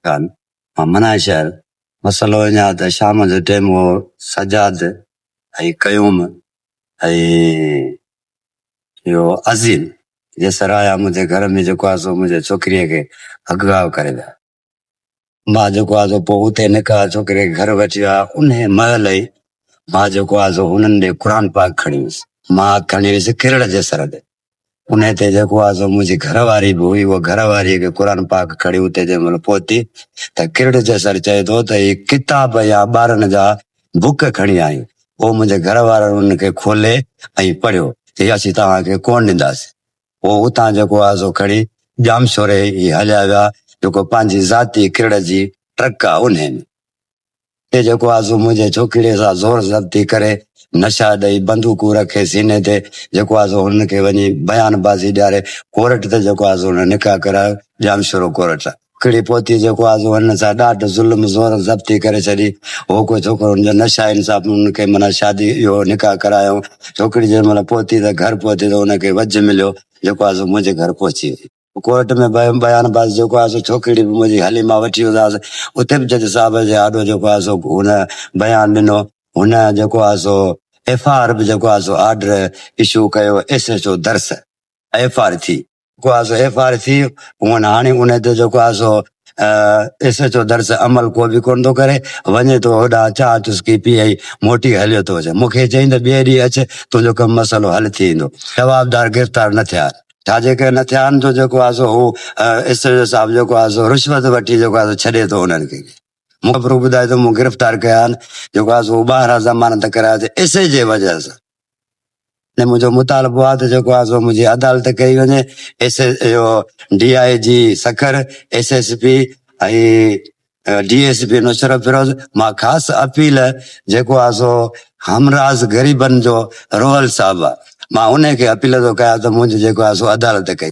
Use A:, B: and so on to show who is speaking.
A: خان، ممنائي شهر، مسئلو اڃان اڌ شام جو ٽيم هو، سجاد ۽ قيوم ۽ اهو عظيم جيسر آيا منهنجي گهر ۾ جيڪو آهي سو منهنجي ڇوڪريء کي اغوا ڪري ويا. مان جيڪو آهي سو پوء اتي نڪا ڇوڪريء کي گهر وٺي ويا، انهيء مهل ئي مان جيڪو آهي سو هنن ڏي قرآن پاڪ کڻي ويس، مان کڻي ويس کرڙ جيسر ڏي، انهيء تي جيڪو آهي سو منهنجي گهر واري به هئي، اها گهر واريء کي قرآن پاڪ کڻي اتي جنهن مهل پهتي ته ڪرڙ جي سر چئي ٿو ته هي ڪتاب يا ٻارن جا بوڪ کڻي آئين. پوء منهنجي گهر وارن ان کي کولي ۽ پڙهيو ته هي اسين توهان کي ڪونه ڏينداسين. پوء اتان جيڪو آهي سو کڻي ڄامشوري هي هليا ويا، جيڪو پنهنجي ذاتي ڪرڙ جي ٽرڪ آهي انهيء ۾. تي جيڪو آزو منهنجي ڇوڪريء سان زور زبطي ڪري، نشا ڏئي، بندوقون رکي سيني تي، جيڪو آزو هن کي وڃي بيان بازي ڏياري، ڪورٽ ته جيڪو آزو هن نڪاح ڪرايو، ڄام شورو ڪورٽ. ڪڙي پهتي جيڪو آزو هن سان ڏاڍ، ظلم، زور زبطي ڪري ڇڏي، هو ڪو ڇوڪرو هن جو نشا انصاف هن کي معنيٰ شادي اهو نڪاح ڪرايائون، ڇوڪري جنهن مهل پهتي ته گهر پهتي ته هن کي وجهه مليو، جيڪو آزو منهنجي گهر پهچي وئي. ڪورٽ ۾ به بيان باز جيڪو آهي سو ڇوڪري به منهنجي هلي مان وٺي ويو آهيس اتي به جج صاحب جي آڏو جيڪو آهي سو هن بيان ڏنو هن جيڪو آهي سو ايف آء آر به جيڪو آهي سو آرڊر اشو ڪيو S H O Dars F I R ٿي جيڪو آهي سو ايف آء آر ٿي هونئن هاڻي ان تي جيڪو آهي سو ايس ايچ او درس عمل ڪو به ڪونه ٿو ڪري وڃي ٿو هوڏا چاهه چسڪي پي ۽ موٽي هليو ٿو اچي مونکي چئين ته ٻئي ڏينهن اچ تنهنجو ڪم مسئلو حل ٿي ويندو جوابدار گرفتار نه ٿيا ڇا جيڪي نه ٿيا آهن ته جيڪو آهي سو هو اسريل صاحب جيڪو آهي سو رشوت وٺي جيڪو آهي سو ڇڏي ٿو انهن کي مون کي پرو ٻڌائي ته مون گرفتار ڪيا آهن جيڪو آهي سو ٻاهران ضمانت ڪرايا ته اسي جي وجه سان ۽ منهنجو مطالبو آهي ته جيڪو آهي سو منهنجي عدالت ڪئي وڃي ايس ايو D I G Sukkur S S P ۽ D S P Nusrat Feroz مان خاص اپيل جيڪو آ سو همراز غريبن جو روحل صاحب آ مان انهي کي اپيل ٿو ڪيان ته منهنجي جيڪو آ سو عدالت ڪئي.